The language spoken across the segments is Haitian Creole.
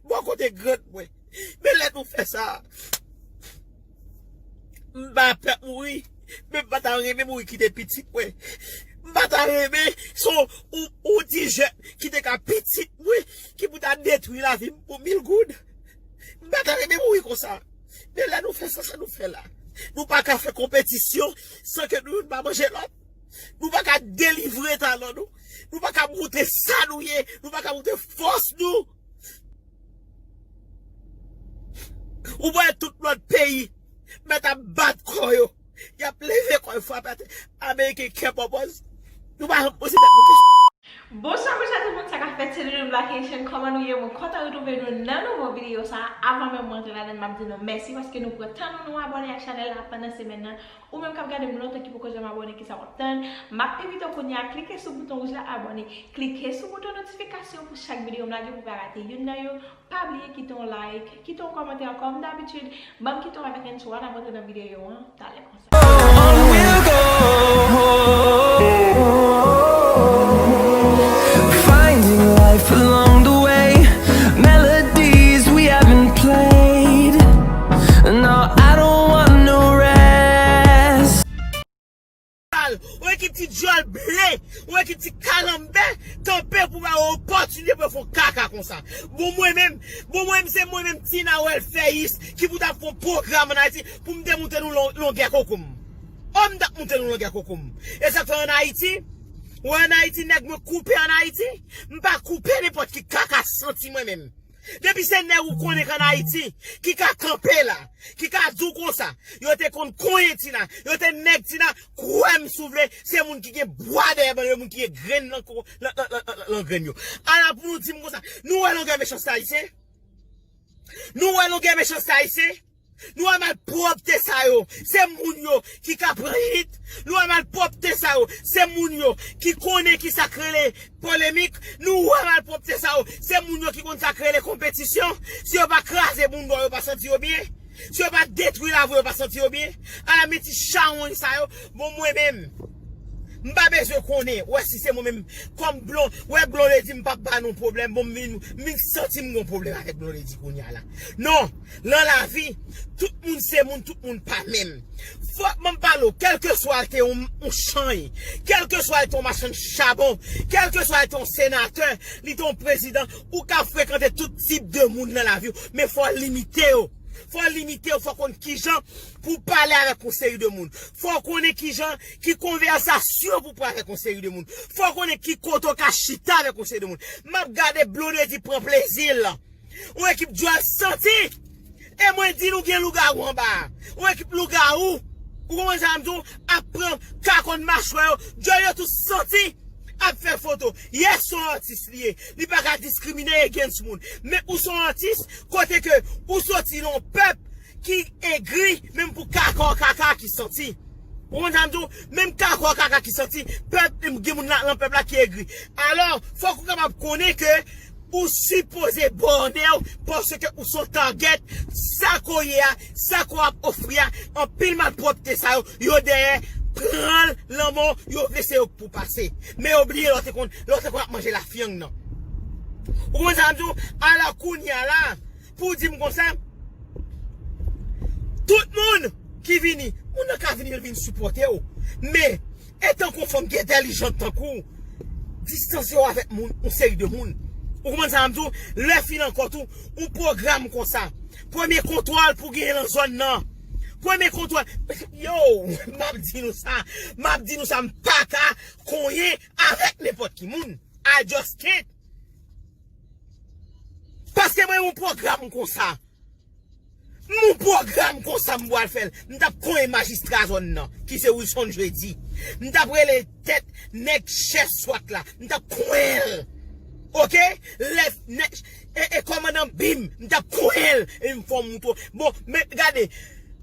Bò kote grann mwen. Men lè nou fè sa. M pa pè mouri. Men m pa ta renmen mouri kite pitit mwen. M pa ta renmen son yon ti jèn ki te ka pitit mwen ki pou ta detwi lavi m pou mil goud. M pa ta renmen mouri konsa. Men lè nou fè sa sa nou fè la. Nou pa ka fè konpetisyon san ke nou youn pa manje lòt. Nou pa ka delivre talan nou. Nou pa ka montre sa nou ye. Nou pa ka montre fòs nou. Ou pa wè tout lòt peyi mèt ap bat kò yo. Y ap leve kò yo frape atè. Ameriken kè pòpòz. Nou pa janm poze tèt nou kesyon. Bonswa bonswa tout moun sa kap fèt se Doudou Black Haitian kòman nou ye mwen kontan retrouve nou nan nouvo video sa avan menm mwen antre ladann map di nou mèsi paske nou pran tan nou nou abòne ak chanèl la pandan semèn nan Ou menm kap gadem lontan ki poko janm abòne kisa wap tann, map envite w kounya klike sou bouton wouj la abòne, klike sou bouton notifikasyon pou chak videyo m lage pou pa rate youn nan yo, pa bliye kite yon like, kite yon kòmantè kòm dabitid, banm kite yon avèk Encho ann ap rantre nan videyo an talè konsa. Ou wè ki ti dyòl ble, ou wè ki ti kalanbè kanpe pou ba ou opòtinite pou yo fè kaka konsa. Bon mwen menm, bon mwen menm se mwen menm Tina Wèlfèyis ki pou ta fè pwogram ann Ayiti pou m te moute nou longè koko m. O m ta moute nou longè koko m. E sa k fè ann Ayiti, ou wè ann Ayiti nèg mwen koupe ann Ayiti, m pa koupe nenpòt ki kaka santi mwen menm. Depi se nèg ou konnen k an Ayiti ki ka kanpe la, ki ka di w konsa, yo te konn konyen Tina, yo te nèg Tina, kwè m si w vle, se moun ki gen bwa dèyè ban yo, moun ki gen grenn nan ko, nan grenn yo. Ala pou nou di m konsa, nou wè longè mechanste Ayisyen? Nou wè longè mechanste Ayisyen? Lwa malpwòpte sa yo, se moun yo ki ka pran hit, lwa malpwòpte sa yo, se moun yo ki konnen ki sa k rele polemik, lwa malpwòpte sa yo, se moun yo ki konn sa k rele konpetisyon, si yo pa kraze bounda w yo pa santi yo byen, si yo pa detwi lavi w yo pa santi yo byen, ala men ti chawony sa yo, bon mwen menm m pa bezwen konnen, wè si se mwen menm kòm blon, wè blondedy m pap ba nou pwoblèm bon m vin m vin santi m gon pwoblèm avèk blondedy kounya la non. Nan lavi, tout moun se moun, tout moun pa menm. Fòk mwen pale w, kèlkeswa l te yon chany, kèlkeswa l te yon machann chabon, kèlkeswa l te yon senatè, li te yon prezidan, ou ka frekante tout tip de moun nan lavi w, men fò w limite yo. Fò w limite yo, fò w konn kijan pou w pale avèk yon seri de moun. Fò w konnen kijan, ki konvèsasyon pou w pran avèk yon seri de moun. Fò w konnen ki kote w ka chita avèk yon seri de moun. M ap gade Blondedy pran plezi l. Yon ekip dyòl santi! E mwen di nou gen lougawou anba a. Yon ekip lougawou, ou konprann sa m di w, ap pran kakòn machwè yo, dyòl yo tou santi, ap fè foto. Yès se yon atis li ye, li pa ka diskrimine against moun. Men ou se yon atis kote ke ou soti nan yon pèp ki egri menm pou kaka w kaka ki santi ou konprann sa m di w menm kaka w kaka ki santi pèp gen moun nan pèp la ki egri alò fòk ou kapab konnen ke ou sipoze bòne w paske ou se yon tagèt sa ke w ye a sa ke w ap ofri a anpil malpwòpte sa yo yo dèyè pran l lanmò yo vle se yo k pou pase men yo bliye lè w te konn lè w te konn ap manje lafyang nan ou konprann sa m di w alò kounya la. Pou di m konsa, tout moun ki vini, moun nan ka vini l vin sipòte w, men, etan ke w fanm ki entèlijant tankou w, distanse w avèk moun, yon seri de moun. Ou konprann sa m di w? Lè fin ankò tou, yon pwogram konsa, premye kontwòl pou genyen nan zòn nan, premye kontwòl, Yow! M ap di nou sa, m ap di nou sa, m pa ka konyen avèk nenpòt ki moun. I just can't! Pase mwen yon pwogram konsa. M yon pwogram konsa m pwal fèl. M tap konyen majistra zòn nan. Ki se Wilson Jeudi. M tap rele tèt nèg chèf swat la. M tap konyenl. Ok? Lè nèg e komandan bim. M tap konyenl. E m fon mouton. Bon men gade.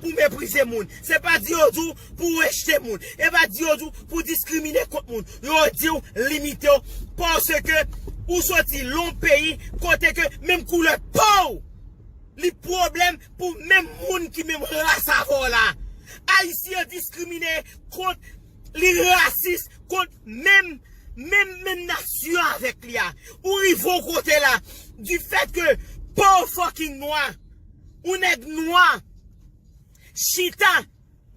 pou meprize moun. Se pa di yo di w pou rejte moun. E pa di yo di w pou w diskrimine kont moun. Yo di w limite w paske ou soti lon peyi kote ke menm koulè po w li pwoblèm pou menm moun ki menm ras avè w la. Ayisyen diskrimine kont li rasis kont menm menm menm nasyon avèk li a. Ou rive yon kote la du fèt ke po w fucking nwa. Yon nèg nwa chita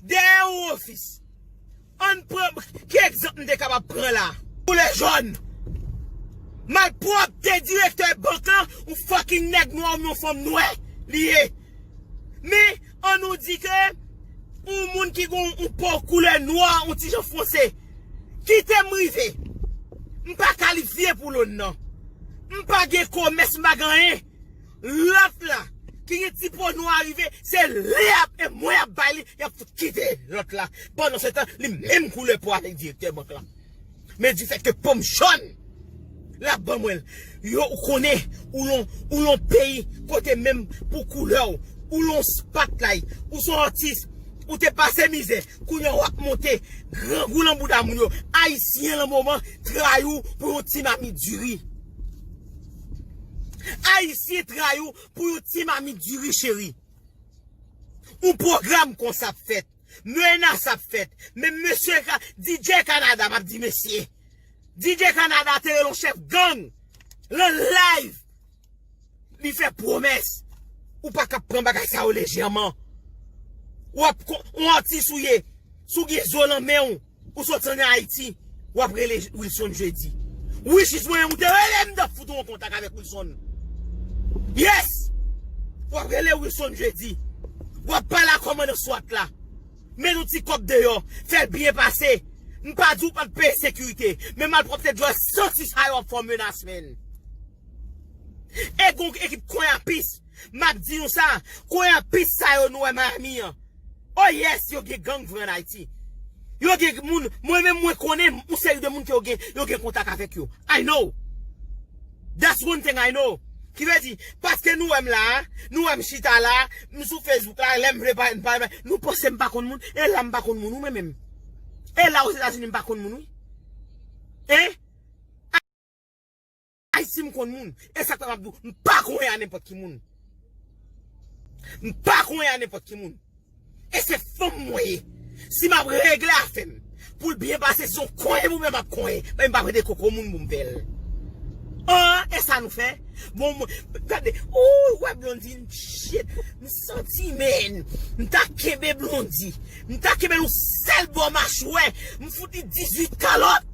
dèyè yon ofis. Ann pran, ki egzanp m te kapab pran la? Koulè jòn. Malpwòpte direktè bank lan, yon fucking nèg nwa oubyen yon fanm nwè li ye. Men, an nou di ke yon moun ki gen yon po koulè nwa, yon ti jan fonse. Kite m rive. M pa kalifye pou loan nan. M pa gen komès, m pa gen anyen. Lot la ki gen ti po nwa rive se li ap e mwen ap bay li yap fout kite lot la pandan se tan li menm koulè po avek direktè bank la men di fet ke pom jòn lap ban mwen l yo ou konnen ou lon ou lon peyi kote menm pou koulè w ou lon spatlight ou son atis ou te pase mizè kounya wap monte grangou lan bouda moun yo ayisyen lan moman trayi w pou yon ti mamit diri. Ayisyen tray ou pou yon ti mamit diri cheri. Yon pwogram konsa ap fèt. Menas ap fèt. Menm mesye ka, DJ Canada, map di mesye. DJ Canada te rele yon chèf gang lan live. Li fè pwomès. Ou pa ka pran bagay sa yo lejèman. Ou ap kon, yon atis ou ye. Si w gen zo lan men w. Ou sot an Haiti wap rele Wilson jeudi. Wi chis mwen ou te rele m tap fout ou an kontak avek Wilson. Yes! Wap rele Wilson jeudi. Wap pale a komandan swat la. Met yon ti kob deyo. Fel byen pase. M pa di w pat peye sekirite. Men malpropte djol santi sa yo ap fe w menas menn. E gon ekip koyapis, map di nou sa, koyapis sa yo nou wè Miami an, oh yes yo gen gang vre an Ayiti. Yo gen moun, mwen menm mwen konnen yon seri de moun ke yo gen, yo gen kontak avèk yo. I know. That's one thing I know. Ki vle di, paske nou wèm la a, nou wèm chita la a, m sou Facebook la, lèm vle pale m pale bay, nou panse m pa konn moun, e la m pa konn moun wi mwen menm. E la Ozetazini m pa konn moun wi. Hein? Ay sim konn moun esak fè map diw m pa konyen a nenpòt ki moun m pa konyen a nenpòt ki moun e se fanm mwen ye si map regle afèm poul byen pase son konyen pou mwen map konyen men m pa prete koko moun poum fèl an e sa nou fè bon mwen gade ooy wè blondy n shit m santi menn m ta kenbe blondy m ta kenbel yon sèl bò machwè m fout li 18 kalòt.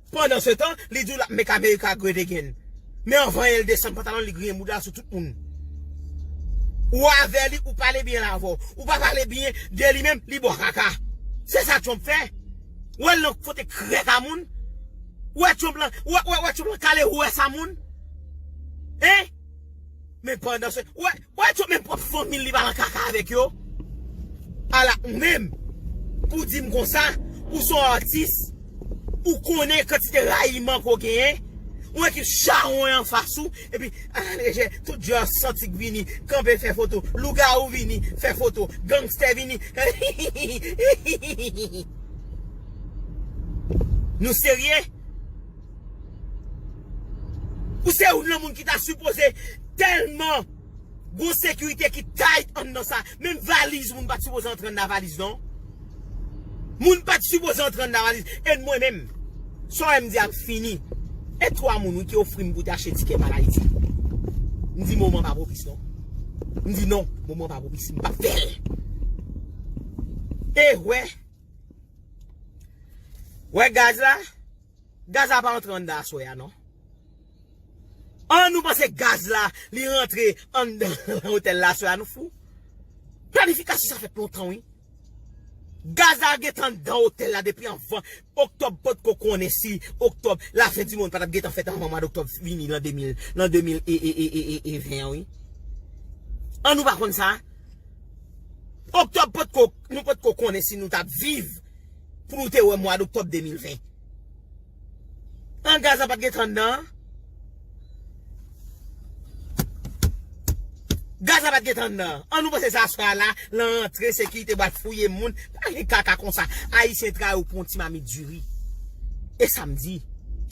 Pandan se tan, li di w lap make America great again. Men anvan el desann pantalon li griyen bouda l sou tout moun. Ou avè li ou pale byen avè w. Ou pa pale byen de li menm li bwa kaka. Se sa Trump fè. Ou wè l nan kote krèk a moun. Ou wè Trump lan, ou wè Trump lan kale rouès a moun. Hein? Men pandan se, ou wè. Wè tchon menm pwòp fanmil li pa nan kaka avèk yo ala ou menm pou dim konsa ou son atis ou konnen kantite rayiman ke w genyen yon ekip chawony anfas ou epi ala lejè tout djòl santi k vini kanpe fè foto lougawou vini fè foto gangstè vini hihihihi hihihihi nou serye. Ou se youn lan moun ki ta sipoze telman gon sekirite ki tight anndan sa. Menm valiz moun pat sipoze antre anndan valiz non. Moun pat sipoze antre anndan valiz. En mwen menm. Sa w wè m di a m fini. E 3 moun wi ki ofri m pou te achte tikè m al Ayiti. M di moman pa pwopis non. M di non, moman pa pwopis. M pap fè l. E wè. Wè gaz la. Gaz la pa antre anndan aswè a non. An nou panse gaz la li rantre anndan otèl la aswè a nou fou. Planifikasyon sa fèt lontan wi. Gaz la gentan anndan otèl la depi anvan oktòb potko konnen si oktòb la fen di monn patap gentan fèt anvan mwad oktòb vini lan 2000 lan 2000 e 20 an wi. An nou pa konn sa. Oktòb potko nou potko konnen si nou tap viv. Pou nou te wè mwa d'octobre 2020. An gaz la pat gen tan anndan an. Gaz la pat gen tan anndan an. An nou panse se aswè a la lan rantre sekirite bal fouye moun. Pa gen kaka konsa. Ayisyen trayi ou pou yon ti mamit diri. E sa m di.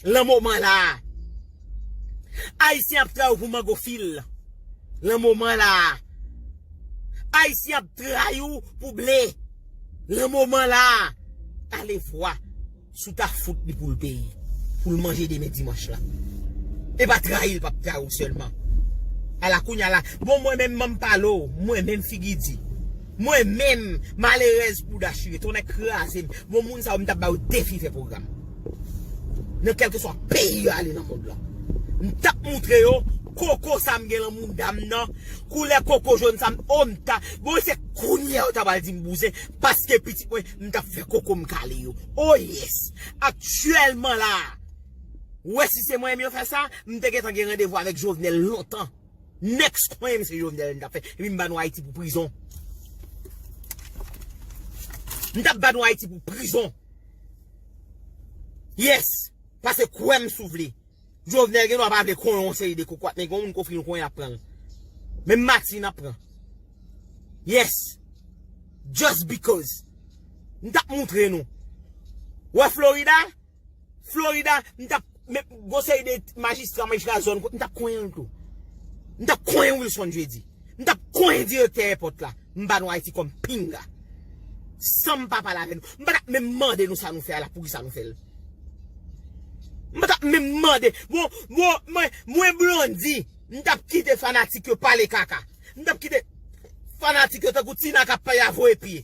Lan moman la. Ayisyen ap trayi ou pou mango fil. Lan moman la. Ayisyen ap trayi ou pou ble. Lan moman la a, Talevwa sou ta fout li pou l peye, pou l manje demen dimanch la. E pa trayi l pa p trayi w sèlman. Ala kounya la, bon mwen menm man m pale w, mwen menm figi di. Mwen menm, malerèz bouda chire, tonnè kraze m, bon moun sa yo m ta bay yo defi fè pwogram. Nan kèlkeswa peyi yo ale nan mond lan. M t ap moutre yo koko sa m gen lan mouda m nan, koulè koko jòn sa m, o m ta. Bon se kounya ou ta pral dim bouzen paske pitit mwen m tap fè kokom kale yo oh yes aktyèlman la ou wè si se mwen yo fè sa m te gentan gen randevou avèk Jovenel lontan next konnen m se Jovenel m tap fè epi m ba nou Ayiti pou prizon m tap ba nou Ayiti pou prizon yes pase kwè m si w vle. Jovenel gen dwa pa vle konnen yon seri de kokorat men gen yon moun ki ofri nou konnen yap pranl. Menm Martine nap pran. Yes! Just because! M tap moutre nou. Ou wè Florida? Florida m tap men yon seri de majistra, majistra zòn m tap konyen l tou. M tap konyen Wilson Jeudi. M tap konyen direktè èpòt la. M ba nou Ayiti kòm pinga. San m pa pale avè nou. M pa tap menm mande nou sa nou fè a la poukisa nou fè l. M pa tap menm mande. Bon, bon, mwen, mwen Blondy, m tap kite fanatik yo pale kaka. M tap kite fanatik yo tankou Tina kap pale a voye pye.